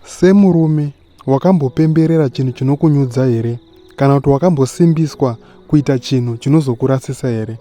Semurume, wakambopemberera chinhu chinokunyudza here? Kana kuti wakambosimbiswa kuita chinhu chinozokurasisa here?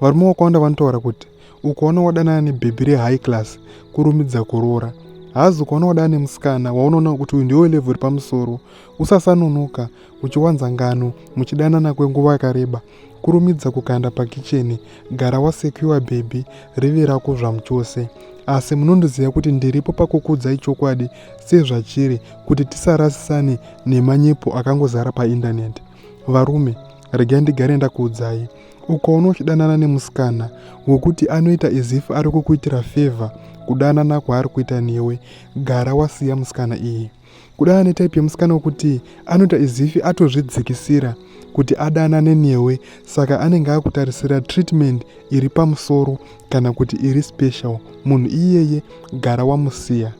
Varume vakawanda vanotaura kuti ukaona wadanana nebhebhi rehigh class kurumidza kuroora hazi ukaona wadana nemusikana waunoona kuti uyu ndiwo level repamusoro usasanonoka uchiwanza ngano muchidanana kwenguva yakareba kurumidza kukanda pakicheni gara wasekiwa bhebhi rive rako zvamuchose asi munondiziva kuti ndiripo pakukudzai chokwadi sezvachiri kuti tisarasisane nemanyepo akangozara paindaneti varume regai ndigare ndakuudzai ukaona uchidanana nemusikana wekuti anoita izif ari kukuitira fevha kudanana kwaari kuita newe gara wasiya musikana iyi kuda ane type yemusikana wekuti anoita izifi atozvidzikisira kuti adanane newe saka anenge akutarisira treatment iri pamusoro kana kuti iri special munhu iyeye gara wamusiya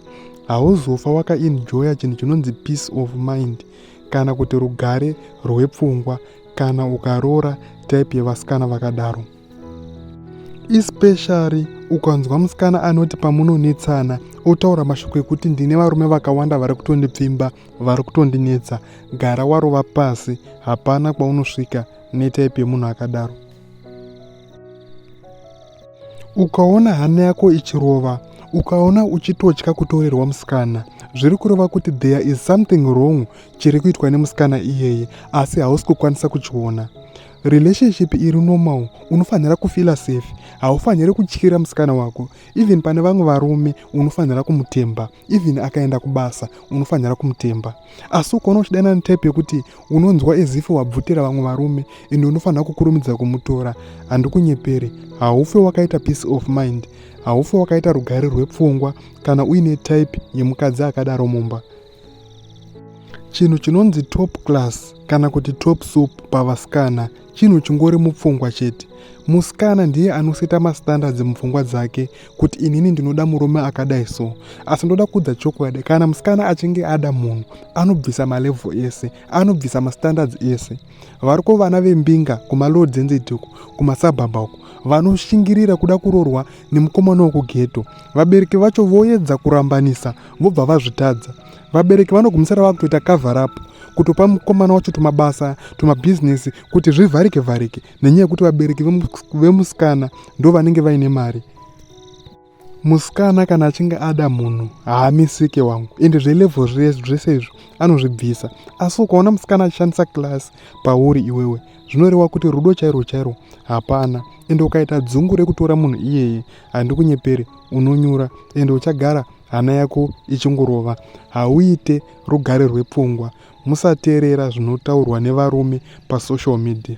hauzofa wakaenjoya chinhu chinonzi peace of mind kana kuti rugare rwepfungwa kana ukaroora type yevasikana vakadaro especially ukanzwa musikana anoti pamunonetsana otaura mashoko ekuti ndine varume vakawanda vari kutondipfimba vari kutondinetsa gara warova pasi hapana kwaunosvika netaipi yemunhu akadaro ukaona hana yako ichirova ukaona uchitotya kutorerwa musikana zviri kureva kuti there is something wrong chiri kuitwa nemusikana iyeye asi hausi kukwanisa kuchiona relationship iri normal unofanira kufila safe haufaniri kutyira musikana wako even pane vamwe varume unofanira kumutemba even akaenda kubasa unofanira kumutemba asi ukaona uchidana netype yekuti unonzwa ezifi wabvutira vamwe varume ende unofanira kukurumidza kumutora handikunyeperi haufe wakaita peace of mind haufe wakaita rugare rwepfungwa kana uine type yemukadzi akadaro mumba chinhu chinonzi top class kana kuti top soup pavasikana chinhu chingori mupfungwa chete musikana ndiye anoseta mastandards mupfungwa dzake kuti inini ndinoda murume akadai so asi ndoda kuudza chokwadi kana musikana achinge ada munhu anobvisa malevho ese anobvisa mastandards ese variko vana vembinga kumaloo dzenzediko kumasabhabha uko vanoshingirira kuda kurorwa nemukomana wekugeto vabereki vacho voedza kurambanisa vobva vazvitadza vabereki vanogumisira vava kutoita kavharapu kutopa mukomana wacho tumabasa tumabhizinesi kuti zvivharike vharike nenyaya yekuti vabereki vemusikana ndo vanenge vaine mari musikana kana achinge ada munhu haamisike wangu ende zvelevo zvese izvo anozvibvisa asi ukaona musikana achishandisa class pauri iwewe zvinoreva kuti rudo chairwo chairwo hapana ende ukaita dzungu rekutora munhu iyeye handikunyepere unonyura ende uchagara hana yako ichingorova hauite rugare rwepfungwa musateerera zvinotaurwa nevarume pasocial media